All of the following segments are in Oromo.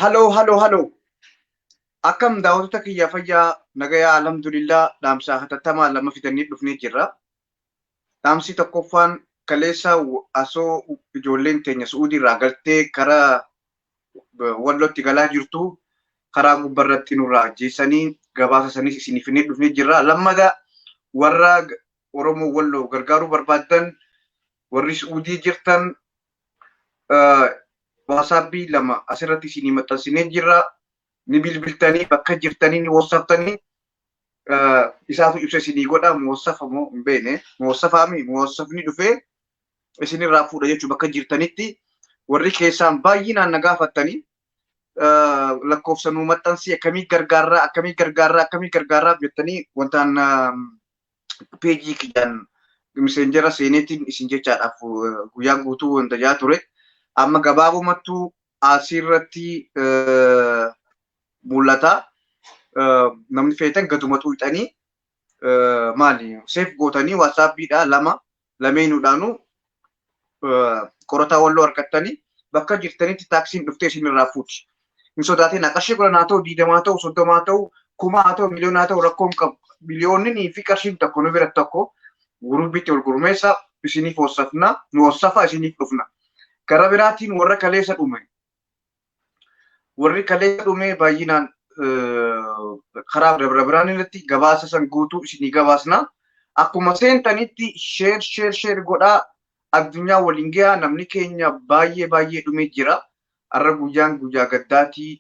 Haloo haloo haloo akkam daawwattoota kiyya fayyaa nagayaa alhamdulillah dhaamsaa hatattamaa lama fidannee dhufnee jirra. Dhaamsi tokkoffaan kaleessa asoo ijoolleen teenya su'uudii irraa galtee gara wallootti galaa jirtu karaa gubbaa irratti nurraa ajjeesanii gabaasa sanis isiniif fidnee dhufnee jirra. Lammata warra Oromoo walloo gargaaruu barbaadan Warri Su'uudii jirtan waasaapbii lama asirratti isinii maxxansinee jirra. Ni bilbiltanii bakka jirtanii ni wasaftanii isaatu ibsa isinii godha muwasafa moo hin beekne muwasafaami muwasafni dhufee isinirraa fuudha jechuu bakka jirtanitti warri keessaan baay'inaan na gaafattanii lakkoofsa nuu maxxansii akkamii gargaarraa akkamii gargaarraa akkamii gargaarraa jettanii wantaan peejii kiyyaan miseenjera seeneetiin isin jechaadhaaf guyyaa guutuu wanta jaa ture. Amma gabaabumattuu asirratti mul'ata. Namni feetan gadumatu hixanii maali seef gootanii waasaappiidhaa lama lameenuudhaanuu qorataa walloo argattanii bakka jirtanitti taaksiin dhuftee isin irraa fuuti. Hin sodaatin qarshii kudhan haa ta'u diidamaa haa ta'u soddoma haa ta'u kuma haa ta'u miliyoona haa ta'u rakkoon qabu. Miliyoonni fi qarshiin tokko nu bira tokko gurubbitti wal gurmeessa isiniif hossafna nu hossafa isiniif dhufna. Gara biraatiin warra kaleessa dhume Warri kaleessa dhumee baay'inaan karaa bira biraan irratti gabaasa san guutuu isinii gabaasna. Akkuma seentanitti sheer sheer sheer godhaa addunyaa waliin gahaa namni keenya baay'ee baay'ee dhumee jira. Har'a guyyaan guyyaa gaddaatii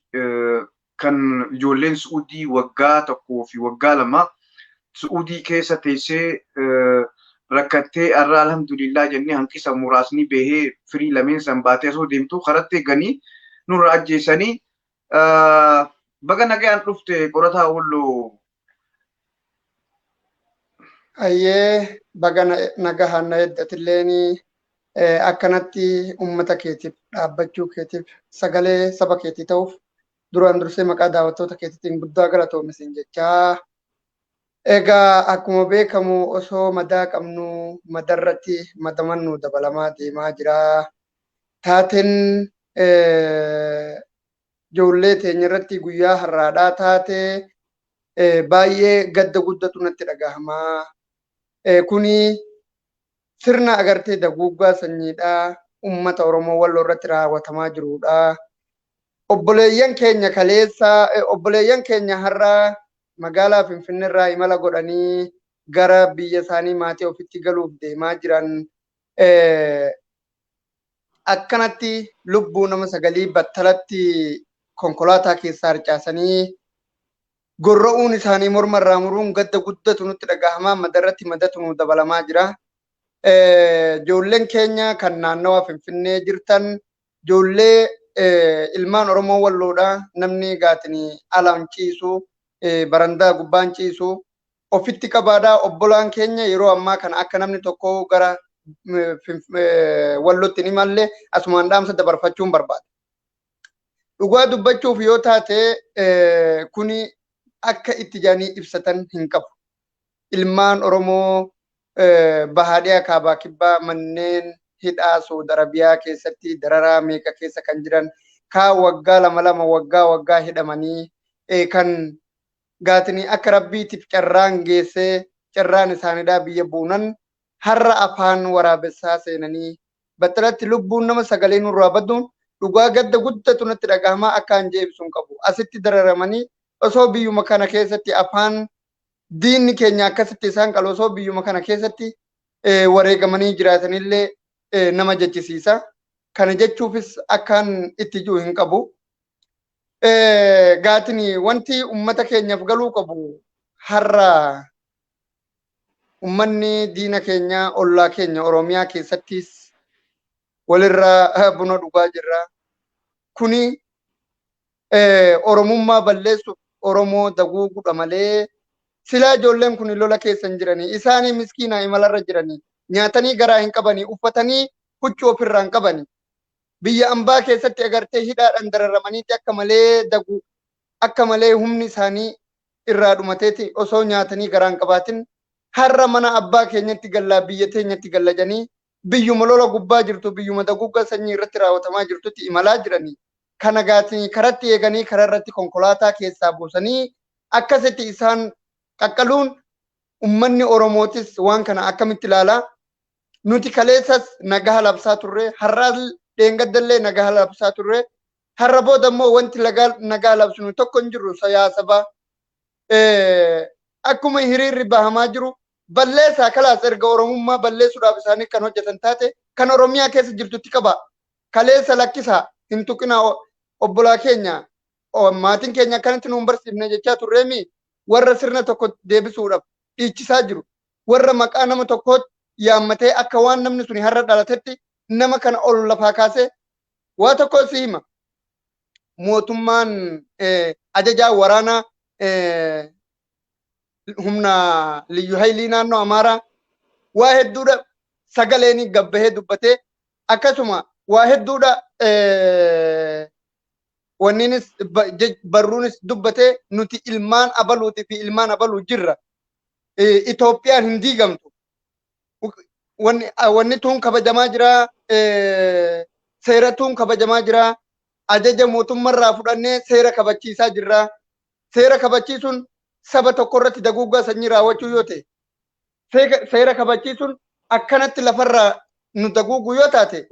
kan ijoolleen Su'uudii waggaa tokkoo fi waggaa lama Su'uudii keessa teessee rakkattee har'a alhamdulillah jennee hanqisa muraasni bahee firii lameen san baatee osoo deemtu karatti eeganii nurra ajjeesanii baga nagayaan dhufte qorataa Walloo Ayyee baga nagahaan na eddatilleen akkanatti uummata keetiif dhaabbachuu keetiif sagalee saba keetii ta'uuf duraan dursee maqaa daawwattoota keetiitiin guddaa galatoomi siin jechaa. Egaa akkuma beekamu osoo madaa qabnu madarratti madaman nu dabalamaa deemaa jira. Taateen ijoollee teenya irratti guyyaa har'aadhaa taate baay'ee gadda guddatu natti dhagahama. Kuni sirna agartee daguuggaa sanyiidha. Uummata Oromoo Walloo irratti raawwatamaa jirudha. Obboleeyyan keenya kaleessa obboleeyyan keenya har'a magaalaa Finfinnee irraa imala godhanii gara biyya isaanii maatii ofitti galuuf deemaa jiran akkanatti lubbuu nama sagalii battalatti konkolaataa keessaa harcaasanii gorra'uun isaanii morma irraa muruun gadda guddatu nutti dhagahama madarratti madatu nu dabalamaa jira. Ijoolleen keenya kan naannawa Finfinnee jirtan ijoollee ilmaan Oromoo walloodha namni gaatiin alaan ciisu barandaa gubbaan ciisu Ofitti qabaadhaa obbolaan keenya yeroo ammaa kana akka namni tokko gara wallotti hin imalle asumaan dhaamsa dabarfachuun barbaada. Dhugaa dubbachuuf yoo taate kuni akka itti jaanii ibsatan hin qabu. Ilmaan Oromoo bahaadhiyaa kaabaa kibbaa manneen hidhaa Saud Arabiyaa keessatti dararaa meeqa keessa kan jiran kaa waggaa lama lama waggaa waggaa hidhamanii kan gaatini akka Rabbiitif carraan geessee carraan isaanidaa biyya buunan harra afaan waraabessaa seenanii battalatti lubbuun nama sagalee nurraa badduun dhugaa gadda guddatu natti dhagahamaa akkaan je'e ibsuun qabu. Asitti dararamanii osoo biyyuma kana keessatti afaan diinni keenya akkasitti isaan qalu osoo biyyuma kana keessatti wareegamanii jiraatanillee nama jechisiisa. Kana jechuufis akkaan itti ji'u hin qabu. Gaatiin wanti ummata keenyaaf galuu qabu har'a ummanni diina keenya ollaa keenya Oromiyaa keessattis walirraa buna dhugaa jirra. Kuni Oromummaa balleessuuf Oromoo daguugudha malee silaa ijoolleen kun lola keessa hin jiranii isaanii miskiinaa imalarra jiranii nyaatanii garaa hin qabanii uffatanii huccuu ofirraa hin qabanii biyya ambaa keessatti agartee hidhaadhaan dararamaniiti akka malee daguu akka malee humni isaanii irraa dhumateeti osoo nyaatanii garaan qabaatin har'a mana abbaa keenyatti gallaa biyya teenyatti galla jedhanii biyyuma lola gubbaa jirtu biyyuma daguuggaa sanyii irratti raawwatamaa jirtutti imalaa jiranii kana gaatanii karatti eeganii karaa irratti konkolaataa keessaa buusanii akkasitti isaan qaqqaluun ummanni Oromootis waan kana akkamitti ilaalaa nuti kaleessas nagaha labsaa turre har'aas dheengaddallee nagaha labsaa turre har'a booda immoo wanti nagaa labsinu tokko hin jiru siyaasaba akkuma hiriirri bahamaa jiru balleessaa kalaas erga oromummaa balleessuudhaaf isaanii kan hojjetan taate kan oromiyaa keessa jirtutti qaba kaleessa lakkisaa hin tuqinaa obbolaa keenya maatiin keenya akkanatti nu hin barsiifne jechaa turreemi warra sirna tokko deebisuudhaaf dhiichisaa jiru warra maqaa nama tokkootti yaammatee akka waan namni suni har'a dhalatetti nama kana ol lafaa kaasee waa tokko si hima. Mootummaan ajajaa waraanaa humna liyyu haylii naannoo Amaaraa waa hedduudha sagaleen gabbahee dubbatee akkasuma waa hedduudha wanniinis barruunis dubbatee nuti ilmaan abaluuti fi ilmaan abaluu jirra. eh, Itoophiyaan hin diigamtu. Wanni ah, wanni tuun kabajamaa jira, eh, seera tuun kabajamaa jira, ajaja mootummarraa fudhannee seera kabachiisaa jirra. Seera kabachiisuun saba tokko irratti daguuggaa sanyii raawwachuu yoo ta'e, seega- seera kabachiisuun akkanatti lafarraa nu daguugu yoo taate,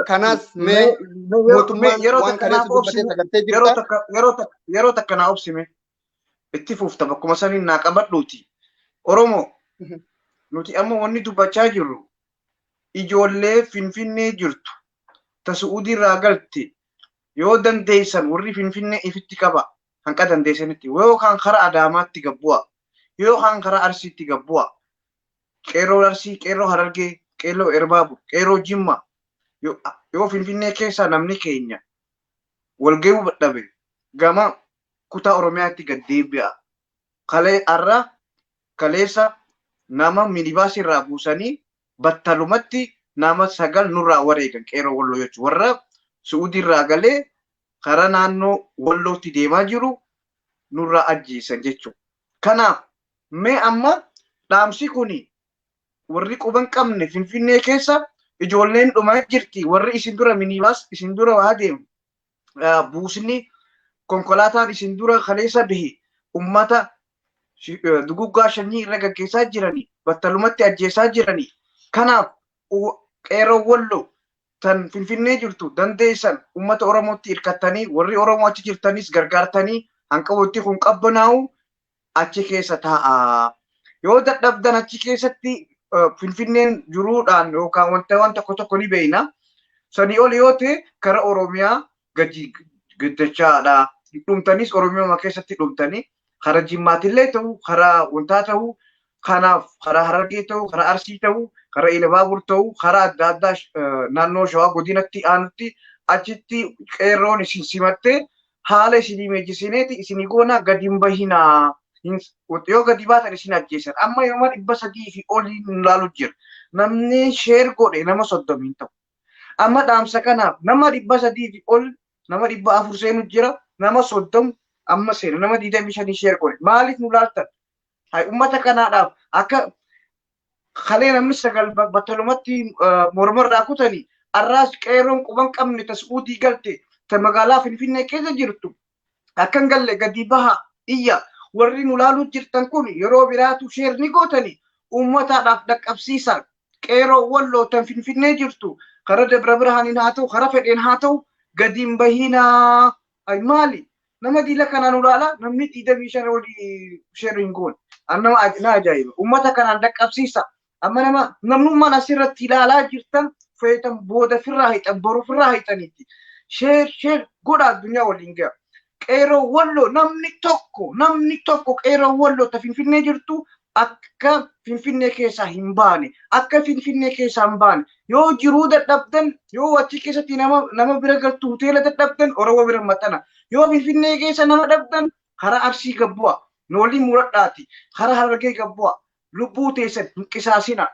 kanaas mee mootummaan waan kaleessa dubbatee sagartee jirta. yeroo takka yeroo takka yeroo takka naa obsime itti fuufta bakkuma saniin naa qabadhuuti oromoo nuti amma wanni dubbachaa jirru ijoollee finfinnee jirtu ta su'uudiirraa galte yoo dandeessan warri finfinnee ifitti qaba hanqa dandeessanitti yoo kaan kara adaamaatti gabbu'a yoo kaan kara arsiitti gabbu'a qeerroo arsii qeerroo harargee qeerroo erbaabu qeerroo jimma yoo finfinnee keessaa namni keenya walga'uu dhabe gama kutaa Oromiyaatti gad deebi'aa. Kalee har'a kaleessa nama minibaasii irraa buusanii battalumatti nama sagal nurraa wareegan qeeroo Walloo jechuun warra Su'uudii irraa galee karaa naannoo Wallootti deemaa jiru nurraa ajjeesan jechuudha. Kanaaf mee amma dhaamsi kuni warri quba hin qabne Finfinnee keessa ijoolleen dhumaa jirti warri isin dura minibaas isin dura waa deemu buusni konkolaataan isin dura kaleessa bahe ummata duguggaa shanyii irra gaggeessaa jiranii battalumatti ajjeesaa jiranii kanaaf qeeroo wallo tan finfinnee jirtu dandeessan ummata oromootti hirkattanii warri oromoo achi jirtanis gargaartanii hanqawootti kun qabbanaa'u achi keessa taa'aa. Yoo dadhabdan achi keessatti eh, Finfinneen jiruudhaan yookaan wanta waan tokko tokko ni beekna. Sanii ol yoo ta'e kara Oromiyaa gadi gaddachaadha. Dhumtanis Oromiyaa keessatti dhumtanii kara Jimmaatillee ta'u kara wantaa ta'u Kanaaf karaa Harargee ta'u, karaa Arsii ta'u, karaa Ilabaabur ta'u, karaa adda addaa naannoo Shawaa godinatti aanutti achitti qeerroon isin simattee haala isinii meejjisineeti isinii goonaa gadi hin bahinaa. Yoo gadi baatan isin ajjeesan. Amma yooma dhibba sadii fi olii nu laalu jira. Namni sheer godhe nama soddomii hin ta'u. Amma dhaamsa kanaaf nama dhibba sadii fi ol nama dhibba afur seenu jira. Nama soddom amma seena nama digdamii shanii sheer godhe. Maaliif nu laaltan? Hay ummata kanaadhaaf akka kalee namni sagal ba- battalumatti eh, mormarraa kutani arraas qeeroon quban qabne ta su'uudii galte ta magaalaa finfinnee keessa jirtu akka hin galle gadi baha iyya warri nu laaluu jirtan kun yeroo biraatu sheer ni gootani ummataadhaaf dhaqqabsiisa qeeroo walloo tan finfinnee jirtu karaa dabra birhaaniin haa ta'u karaa fedheen haa ta'u gadi hin bahinaa Ay maali nama diila kanaan ulaala namni digdamii shan oli sheerri hin goone. An nama aj- na ajaa'iba. Uummata kanaan dhaqqabsiisa. Amma nama namnummaan asirratti ilaalaa jirtan feetan booda firraa hiixan boru firraa hiixaniitti. Sheer sheer godha addunyaa waliin ga'a. Qeeroo walloo namni tokko namni tokko qeeroo walloo ta finfinnee jirtu akka Finfinnee keessaa hin baane akka Finfinnee keessaa hin baane yoo jiruu dadhabdan yoo achi keessatti nama nama bira galtu hoteela dadhabdan Oromoo bira maxxana yoo Finfinnee keessa nama dhabdan karaa Arsii gabbu'a nu waliin muradhaati karaa Harargee gabbu'a lubbuu teessan hin qisaasina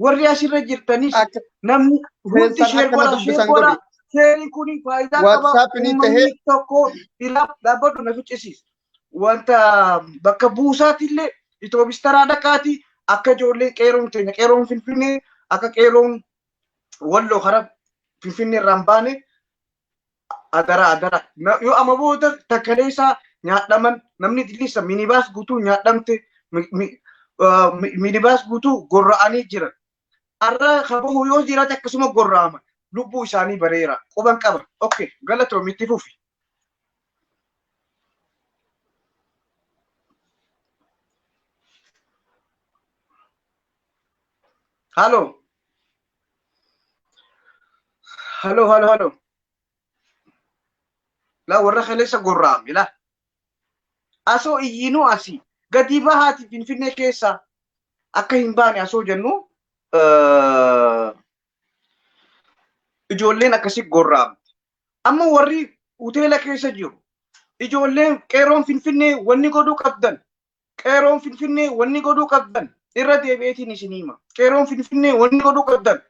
warri asirra jirtanis Akka namni hundi keessan sheer akka na godha sheer dubbisan godha godhi. sheeriin kun faayidaa qaba WhatsApp ni ta'e. uummanni tokko dhiraa dhaabbadhu na ficcisiisa wanta bakka buusaati illee itoobistaraa dhaqaati akka ijoollee qeeroon keenya qeeroon finfinnee akka qeeroon walloo kara finfinnee irraa hin baane adara adara Na- yoo amma booda takkalee isaa nyaadhaman namni dilliisa minibaas guutuu nyaadhamte mi- mi- ah, mi- minibaas guutuu gorra'anii jiran arra ka bahu yoo jiraate akkasuma gorraama lubbuu isaanii bareera quban qaba ok galatoomi itti fufi halo halo halo halo la warra kaleessa gorraame la asoo iyyiinuu asii gadii bahaati finfinnee keessaa akka hin baane asoo jennu eh, ijoolleen akkasii gorraamte. Amma warri hoteela keessa jiru ijoolleen qeeroon finfinnee wanni godhuu qabdan Qeeroon Finfinnee wanni godhuu qabdan irra deebi'eetiin isin hima. Qeeroon Finfinnee wanni godhuu qabdan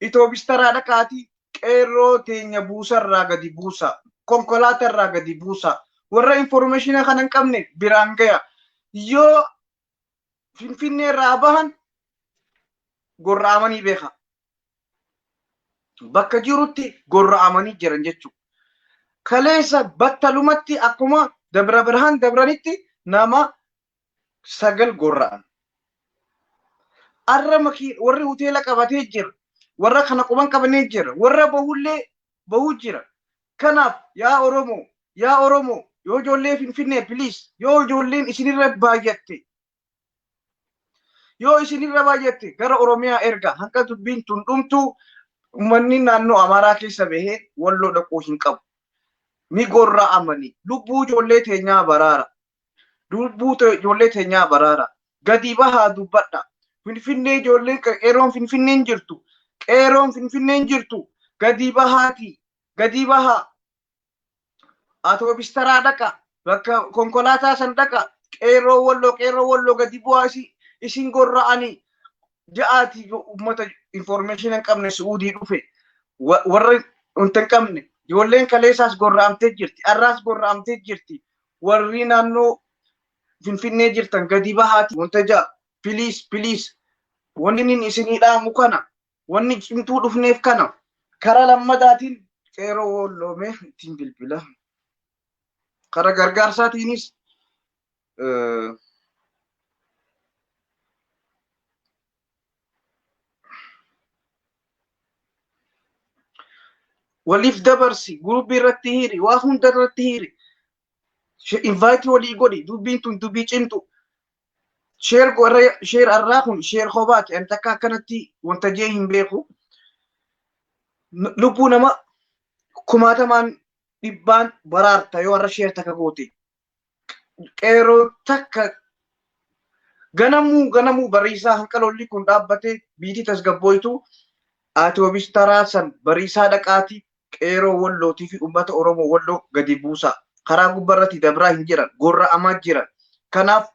itoobistaraa dhaqaatii qeerroo teenya buusarraa gadi buusaa. Konkolaatarraa gadi buusaa. Warra informeeshina kana hin qabne biraan gaya. Yoo Finfinneerraa bahan gorra'amanii beeka. bakka jirutti gorra'amanii jiran jechuudha. Kaleessa battalumatti akkuma Dabra Birhaan dabranitti nama sagal gorra'an. Arra makii warri hoteela qabatee jira. Warra kana quban qabnee jira. Warra bahullee bahuu jira. Kanaaf yaa Oromoo yaa Oromoo yoo ijoollee Finfinnee please yoo ijoolleen isinirra baay'atte Yoo isinirra baay'atte gara Oromiyaa erga hanga dubbiin tun dhumtu uummanni naannoo Amaaraa keessa bahee walloo dhaquu hin qabu. Ni gorra amani. Lubbuu ijoollee teenyaa baraara. Lubbuu ijoollee teenyaa baraara. Gadi bahaa dubbadha. Finfinnee ijoolleen qeeroon Finfinneen jirtu. Qeeroon Finfinneen jirtu. Gadi bahaati. Gadi bahaa. atoobis taraa dhaqa bakka konkolaataa san dhaqa qeerroo walloo qeerroo walloo gadi bu'aa isi- isin gorra'anii ja'aati yoo uummata information hin qabne su'uudii dhufe wa- warra wanta hin qabne ijoolleen kaleessaas gorra'amtee jirti arraas gorra'amtee jirti warri naannoo finfinnee jirtan gadi bahaati wanta ja'a piliis piliis wanni inni isinii dhaamu kana Wanni cimtuu dhufneef kana. Karaa lammataatiin qeeroo woolloomee ittiin bilbila. Karaa gargaarsaatiinis waliif dabarsi guruubii irratti hiiri waa hunda irratti hiiri invaayitii walii godhi dubbiin tun dubbii cimtu Sheer warra sheer arraa kun sheer kobaati. Ani takka akkanatti wanta jee hin beeku. N- Lubbuu nama kumaatamaan dhibbaan baraarta yoo warra sheer takka goote. Qeeroo takka ganamuu ganamuu bariisaa hanqaloolli kun dhaabbate biitii tasgabbooytu atoobis taraa san bariisaa dhaqaati Qeeroo Wolloo tifi ummata Oromoo Wolloo gadi buusaa. Karaa gubba irrati dabraa hin jiran. Gorra'amaa jiran. Kanaaf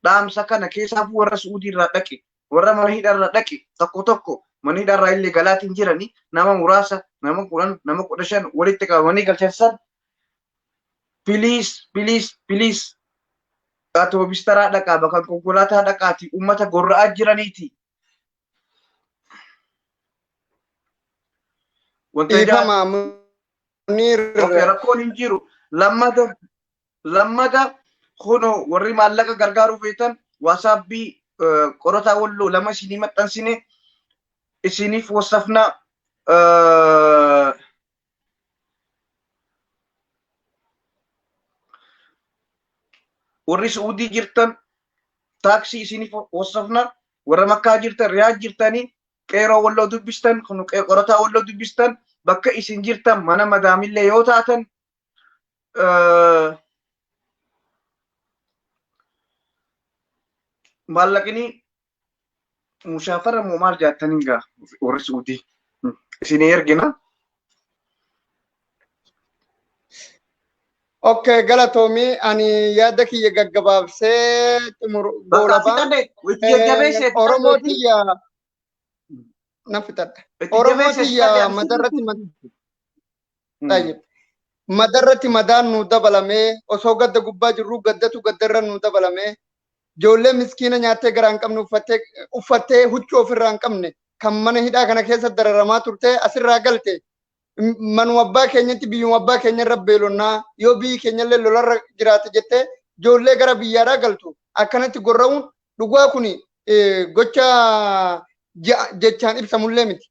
dhaamsa kana keessaafuu warra Su'uudii irraa dhaqe, warra mana hidha irraa dhaqe tokko tokko mana hidha irraa illee galaati hin jirani nama muraasa nama 10 nama 15 walitti qabamanii galchan san please please please atoobistaraa dhaqaa bakka konkolaataa dhaqaati ummata gorra'aa jiraniiti Wanta ijaa- Dhiifama Muniir. Okay, rakkoon hin jiru. Lammata lammata kuno warri maallaqa gargaaruu feetan waasaapbii eh, qorataa walloo lama isinii maxxansine isiniif wasafna eh, warri su'uudii jirtan taaksii isiniif hossafna warra makkaa jirtan riyaad jirtanii qeeroo walloo dubbistan kun qe- qorataa walloo dubbistan bakka isin jirtan mana madaamillee yoo taatan eh, maallaqni Musaafara immoo maal jaattan hin gaa warri Suudii isin ergina. Okay, galatoomi ani yaada kiyya gaggabaabsee xumur Bakka goolaba. fixadhe itti jajjabeesse itti Oromoo jajjabeesse tiyya nan fixadha. itti Oromoo jajjabeesse itti tiyya jajjabeesse. madarratti Hmm. tayyib. Madarratti madaan nu dabalamee osoo gadda gubbaa jirru gaddatu gaddarra nu dabalamee Ijoollee miskiina nyaattee garaa hin qabne uffattee uffattee huccuu ofirraa hin qabne kan mana hidhaa kana keessa dararamaa turtee asirraa galte m- manuma abbaa keenyatti biyyuma abbaa keenyarra beelonnaa yoo biyyi keenyallee lolarra jiraate jettee ijoollee gara biyyaadhaa galtu akkanatti gorra'uun dhugaa kuni eh, gocha ja- jechaan ibsamullee miti.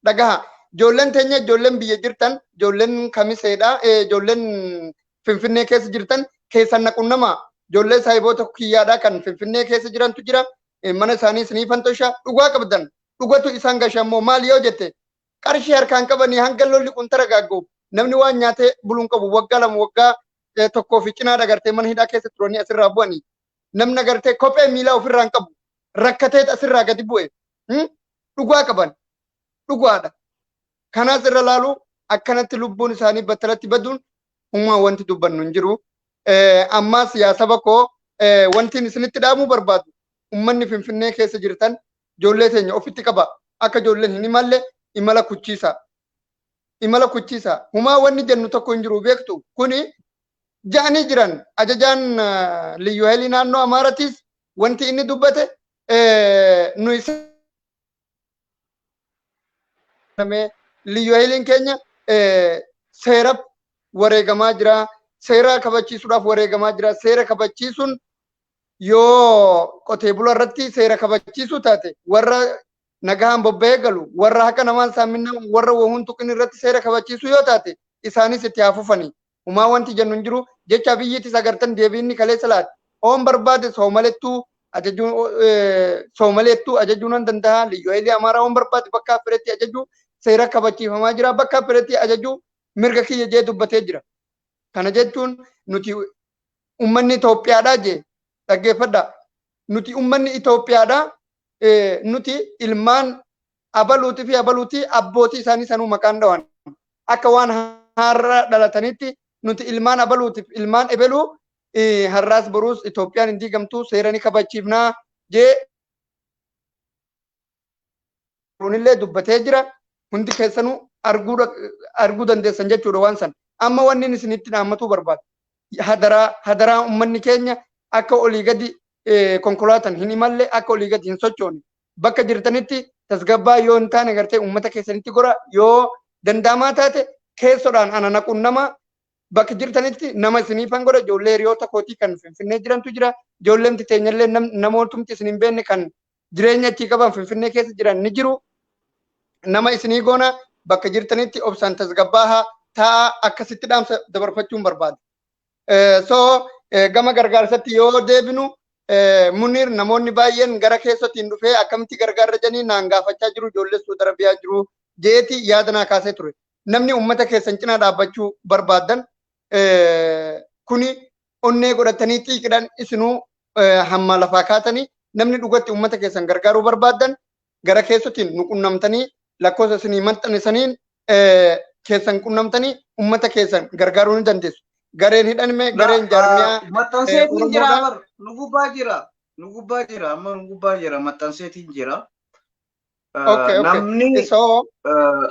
Dhagaha. Ijoolleen teenya ijoolleen biyya jirtan ijoolleen kamiseedha ijoolleen finfinnee keessa jirtan keessan na qunnama ijoollee saahiboota kiyyaadha kan finfinnee keessa jirantu jira mana isaanii isinii fantosha dhugaa qabdan dhugatu isaan gashan moo maal yoo jette qarshii harkaan qabanii hanga lolli kun taragaaggu namni waan nyaatee buluun qabu waggaa lama waggaa tokkoo fi cinaa dagartee mana hidhaa keessa turanii asirraa bu'anii namni agartee kophee miilaa ofirraa hin qabu rakkatee asirraa gadi bu'e hmm? dhugaa qaban dhugaadha kanaas irra laalu akkanatti lubbuun isaanii battalatti baduun hummaa wanti dubbannu hin jiru Eh, ammaas yaa saba koo eh, wantiin isinitti dhaamuu barbaadu ummanni finfinnee keessa jirtan ijoollee teenya ofitti qaba akka ijoolleen hin imalle imala kuchiisa imala kuchiisa humaa wanni jennu tokko hin jiru beektu kuni ja'anii jiran. Ajajaan Liyyuu Hailii naannoo Amaaratiis wanti inni dubbate nuyi Liyyuu Hailiin keenya seeraf wareegamaa jira. Seera kabachiisuudhaaf wareegamaa jira. Seera kabachiisuun yoo qotee bulaa irratti seera kabachiisuu taate warra nagahaan bobba'ee galu warra haqa namaan saaminaan warra wahuun tuqin irratti seera kabachiisuu yoo taate isaanis itti haa fufanii Humaa wanti jennu hin jiru. Jecha Abiyyiitis agartan deebii inni kaleessa laate. Oon barbaade Soomalettuu ajajuu Soomaleettuu ajajuu nan danda'a. Liyyuu Hayilee Amaaraa oon barbaade bakka fedhetti ajajuu seera kabachiifamaa jira. Bakka fedhetti ajajuu mirga kiyya jee dubbatee jira. Kana jechuun nuti ummanni Itoophiyaadhaa jee dhaggeeffadhaa. Nuti ummanni Itoophiyaadhaa nuti ilmaan abaluuti fi abaluuti abbootii isaanii sanuu maqaan dhawan akka waan har'a dhalatanitti nuti ilmaan abaluutiif ilmaan ebeluu eh, har'aas boruus Itoophiyaan hin diigamtu seera ni kabachiifnaa jee kunillee dubbatee jira hundi keessanuu arguu dha- arguu dandeessan jechuudha waan san amma wanni inni isinitti dhaammatuu barbaada hadaraa hadaraa ummanni keenya akka olii gadi eh, konkolaatan hin imalle akka olii gadi hin sochoone bakka jirtanitti tasgabbaa yoo hin taane gartee uummata keessanitti gora yoo danda'amaa taate keessodhaan ana naquun nama bakka jirtanitti nama isiniifan godha ijoollee hiriyoota kootii kan finfinnee jirantu jira ijoolleen teenyallee namootumti isin hin beekne kan jireenya achii qaban finfinnee keessa jiran ni jiru nama isinii goona bakka jirtanitti obsaan tasgabbaahaa taa'aa akkasitti dhaamsa dabarfachuun barbaada. So gama gargaarsatti yoo deebinu Munir namoonni baay'een gara keessattiin dhufee akkamitti gargaarra jedhanii naan gaafachaa jiru ijoollee Suudi Arabiyaa jiru jeeti yaada naa kaasee ture. Namni uummata keessan cinaa dhaabbachuu barbaadan kuni onnee godhatanii xiiqidhaan isinuu hammaa lafaa kaatanii namni dhugatti uummata keessan gargaaruu barbaadan gara keessatiin nu qunnamtanii lakkoofsa isinii maxxane saniin keessan qunnamtanii ummata keessan gargaaruu ni dandeessu. Gareen hidhanme gareen jaarmiyaa Maxxanseetiin jira Oromoodha. bar nu gubbaa jira nu gubbaa jira amma nu gubbaa jira maxxanseetiin jira. Eh, Okay, okay. Namni So, eh,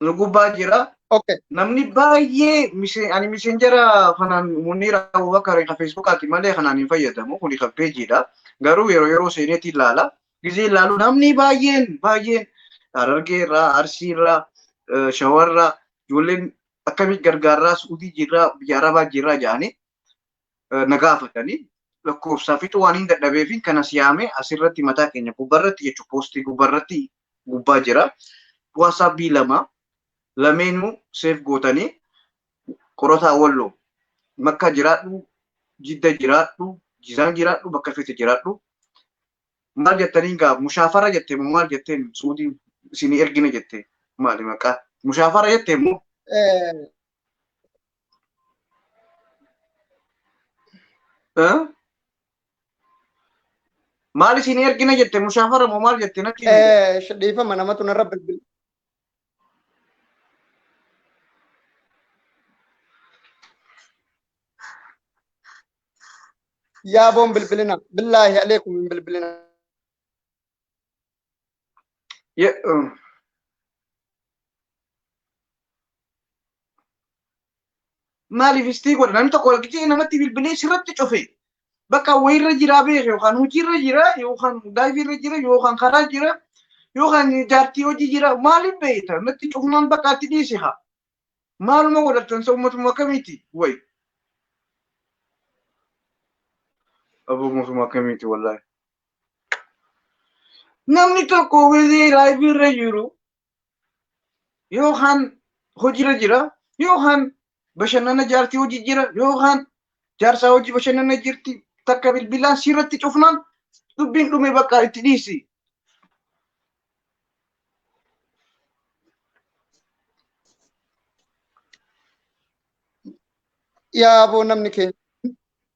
nu gubbaa jira. Okay. Namni baay'ee mise- ani miseenjera kanaan Muniir Abubakar kan Feesbuukaati malee kanaan hin fayyadamu. Kuni kan peejiidha. Garuu yeroo yeroo seeneetti ilaala. Gizee ilaalu namni baay'een baay'een Harargee irraa, Arsii irraa, eh, Shawaa irraa, ijoolleen akkamitti gargaarraa, Suudii jirraa, biyya Arabaa jirraa jedhanii na gaafatanii lakkoofsaa fixuu waan hin dadhabeefin kan as yaame asirratti mataa keenya gubbarratti jechuun poostii gubbarratti gubbaa jira. Waasaapbii lama lameenuu seef gootanii qorataa walloo makka jiraadhu jidda jiraadhu jizaan jiraadhu bakka feete jiraadhu maal jettaniin gaa mushaafara jette moo maal jetteen suudiin isinii ergina jette maali maqaa mushaafara jette moo Maal isin ergina jette mushaafara moo maal jette natti Dhiifama namatu narra bilbila. Yaaboon bilbilina. Billaahi aleekum hin bilbilina. Yeah, um, maaliif istii godha namni tokko walqixee namatti bilbilee sirratti cufe bakka wayirra jiraa beeke yookaan hojiirra jira yookaan daa'iirra jira yookaan karaa jira yookaan jaartii hojii jira maaliif beekta natti cufumaan bakka atti dhiise haa maaluma godhattan sa ummatuma akkamiiti way aboo mootummaa akkamiiti wallaahi Namni tokko wezee laayivii irra jiru yookaan hojiirra jira yookaan bashannana jaartii hojii jira yookaan jaarsaa hojii bashannana jirti takka bilbilaan siirratti cufnaan dubbiin dhume bakka itti dhiisi. Yaa boo namni keenya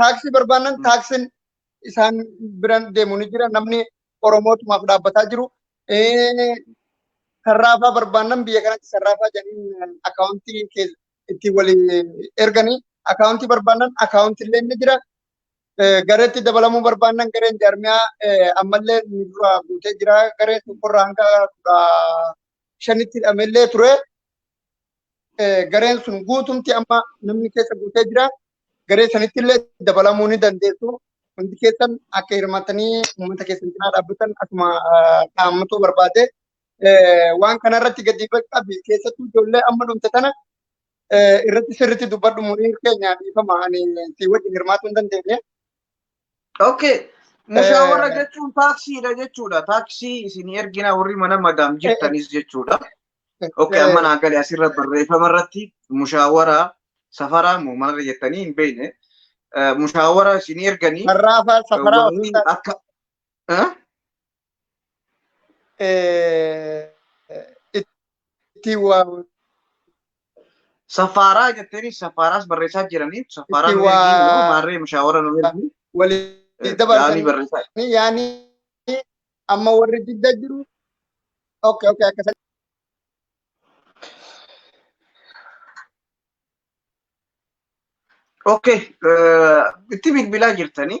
taaksii barbaannan Mm. taaksiin isaan biran deemu ni jira namni oromootumaaf dhaabbataa jiru Eh, sarraafaa barbaannan biyya kanatti sarraafaa jedhanii akaawuntii keessa itti walii erganii akaawuntii barbaannan akaawuntii illee ni jira Eh, gareetti dabalamuu barbaannan gareen jaarmiyaa eh, ammallee nu dura guutee jira garee tokkorraa hanga kudha shanitti hidhamellee ture gareen sun guutumti amma namni keessa guutee jira. Garee sanitti illee dabalamuu ni dandeessu. Hundi keessan akka hirmaatanii uummata keessan cinaa dhaabbatan akkuma dhaammatuu barbaade. Waan kana irratti gadi qabi keessattuu ijoollee amma dhumte tana irratti sirriitti dubbadhu muriin keenya dhiifama ani si wajjin hirmaatuu hin dandeenye. Okay. Mushaawara Eh. jechuun taaksiidha jechuudha. Taaksii isin ergina warri mana madaam jirtanis jechuudha. Okay, amma naa gale asirra barreeffama irratti mushaawara safaraa moo manarra jettanii hin beekne. Eh, Mushaawara isin erganii Har'aafaa safaraa warri ofii akka Eh? itti waa Safaaraa jetteenis safaaraas barreessaa jiraniif safaaraan Itti waa- ergiin immoo maarree mushaawara nu ergii walii gaarii dabarsanii barreessaa. yaani amma warri jidda jiru okay okay akkasa Okay, eh, itti bilbilaa jirtanii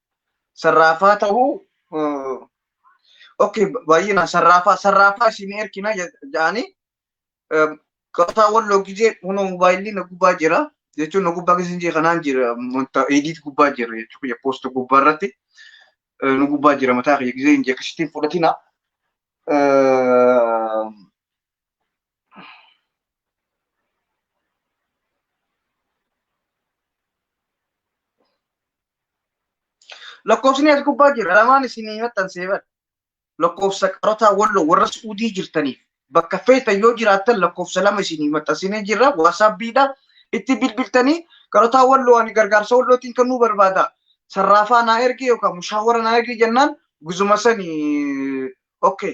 sarraafaa ta'uu okay baay'inaan sarraafaa sarraafaa isin erkina jedhanii qabataa walloo gizee kunoo moobaayilii na gubbaa jira jechuun na gubbaa keessa jira kanaan jira wanta ediit gubbaa jira jechuun kiyya poost gubbaa irratti nu gubbaa jira mataa kiyya gizee hin jekkisitiin fudhatina. Lakkoofsni as gubbaa jira lamaan isinii maxxansee bara. Lakkoofsa qarotaa walloo warra suudii jirtaniif bakka feetan yoo jiraattan lakkoofsa lama isinii maxxansinee jirra waasaappiidha itti bilbiltanii qarotaa walloo ani gargaarsa wallootiin kan nu barbaada sarraafaa naa ergee yookaan mushaawara naa ergee jennaan guzuma sani okay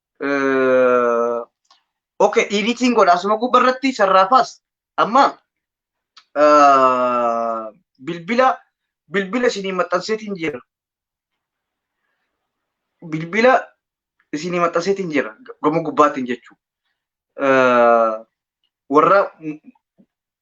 Okay, editing godha asuma gubba irratti sarraafaas amma bilbila bilbila isinii maxxanseetiin jira. Bilbila isinii maxxanseetiin jira gama gubbaatiin jechuudha. Warra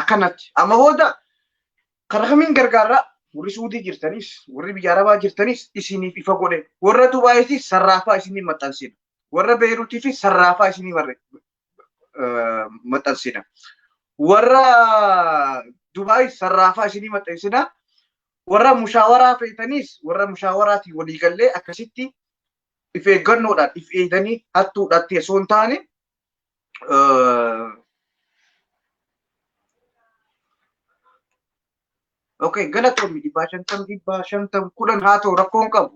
akkanatti amma booda karaa kamiin gargaarraa warri suudii jirtanis warri biyya arabaa jirtanis isiniif ifa godhe warra dubaayitiif sarraafaa isinii maxxansina warra beeruutiif sarraafaa isinii maxxansina warra dubaayis sarraafaa isinii maxxansina warra mushaawaraa feetaniis warra mushaawaraatiin walii gallee akkasitti if eeggannoodhaan if eeganii hattuudhaatti osoo hin taane ok galatoomi dhibbaa shantam dhibbaa shantam kudhan haa ta'u rakkoon qabu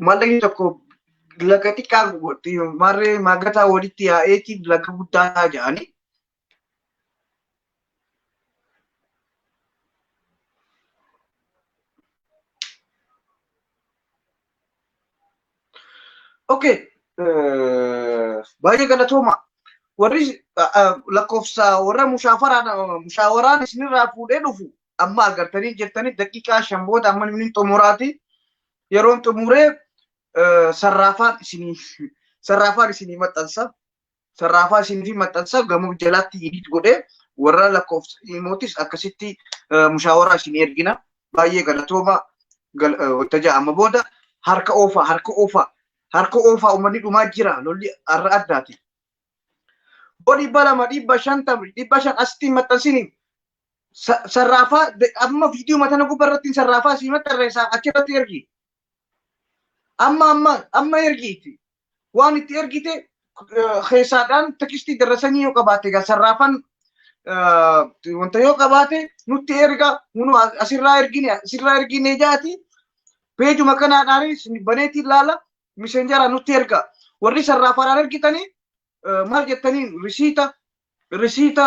mallaqni tokko laga xiqqaa maarree maagataa walitti yaa'eeti laga guddaa ta'a jedhanii Okay. Baay'ee galatooma. Warri lakkoofsa warra mushaawaraan isinirraa fuudhee dhufu amma argattanii jirtanii daqiiqaa shan booda amma inni xumuraati. Yeroon xumuree sarraafaan isinii sarraafaan isinii maxxansa. Sarraafaa isin fi maxxansaa gamoo jalaatti edit godhee warra lakkoofsa imootis akkasitti eh, mushaawaraa isin ergina. Baay'ee galatooma gal- eh, waltajaa amma booda harka oofaa harka oofaa harka oofaa uummanni dhumaa jira lolli har'a addaati. Boo dhibba lama dhibba shantam dhibba shan asitti hin maxxansini. Sa- Sarraafaa de- amma viidiyoo matana gubbaa irratti hin sarraafaa sii maxxanreessaa achirratti ergi. Amma amma amma ergiiti. waan itti ergite keessaadhaan tekistii darasanii yoo qabaate egaa sarraafan wanta yoo qabaate nutti erga munu asirraa ergine asirraa ergine jaati peejuma kanaadhaanis baneetiin laala misenjara nutti erga warri sarraafaadhaan ergitanii maal jettaniin risiita risiita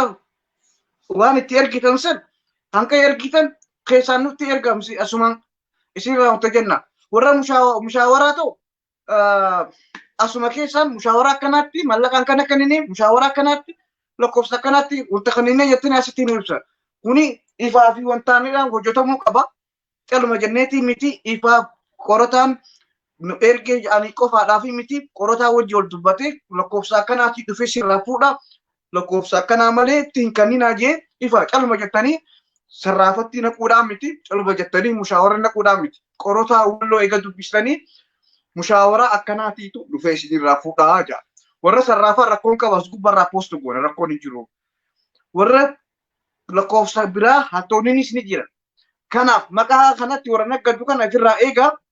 waan itti ergitan san hanga ergitan keessaan nutti ergamsi asumaan isinirraa wanta jenna warra mushaawaraa ta'u asuma keessaan mushaawaraa akkanaatti mallaqa akkana kennine mushaawaraa akkanaatti lakkoofsa akkanaatti wanta kanneen jettanii asitti nu ibsa. Kuni ifaa fi wantaanidhaan hojjetamuu qaba. Caluma jenneetii miti ifaa qorataan nu ergee jedhanii qofaadhaa fi miti qorataa wajji wal dubbatee lakkoofsa akkanaatii dhufee sirraa fuudha. lakkoofsa akkanaa malee itti hin kanninaa jee ifa calma jettanii sarraafattii naquudhaan miti calma jettanii mushaawara naquudhaan miti qorotaa walloo eega dubbistanii mushaawara akkanaatiitu dhufee isinirraa fuudhaa jaa warra sarraafaa rakkoon qaba as gubbarraa poostu goona rakkoon hin jiru warra lakkoofsa biraa hattoonninis ni jira kanaaf maqaa kanatti warra naggaddu kana ofirraa eegaa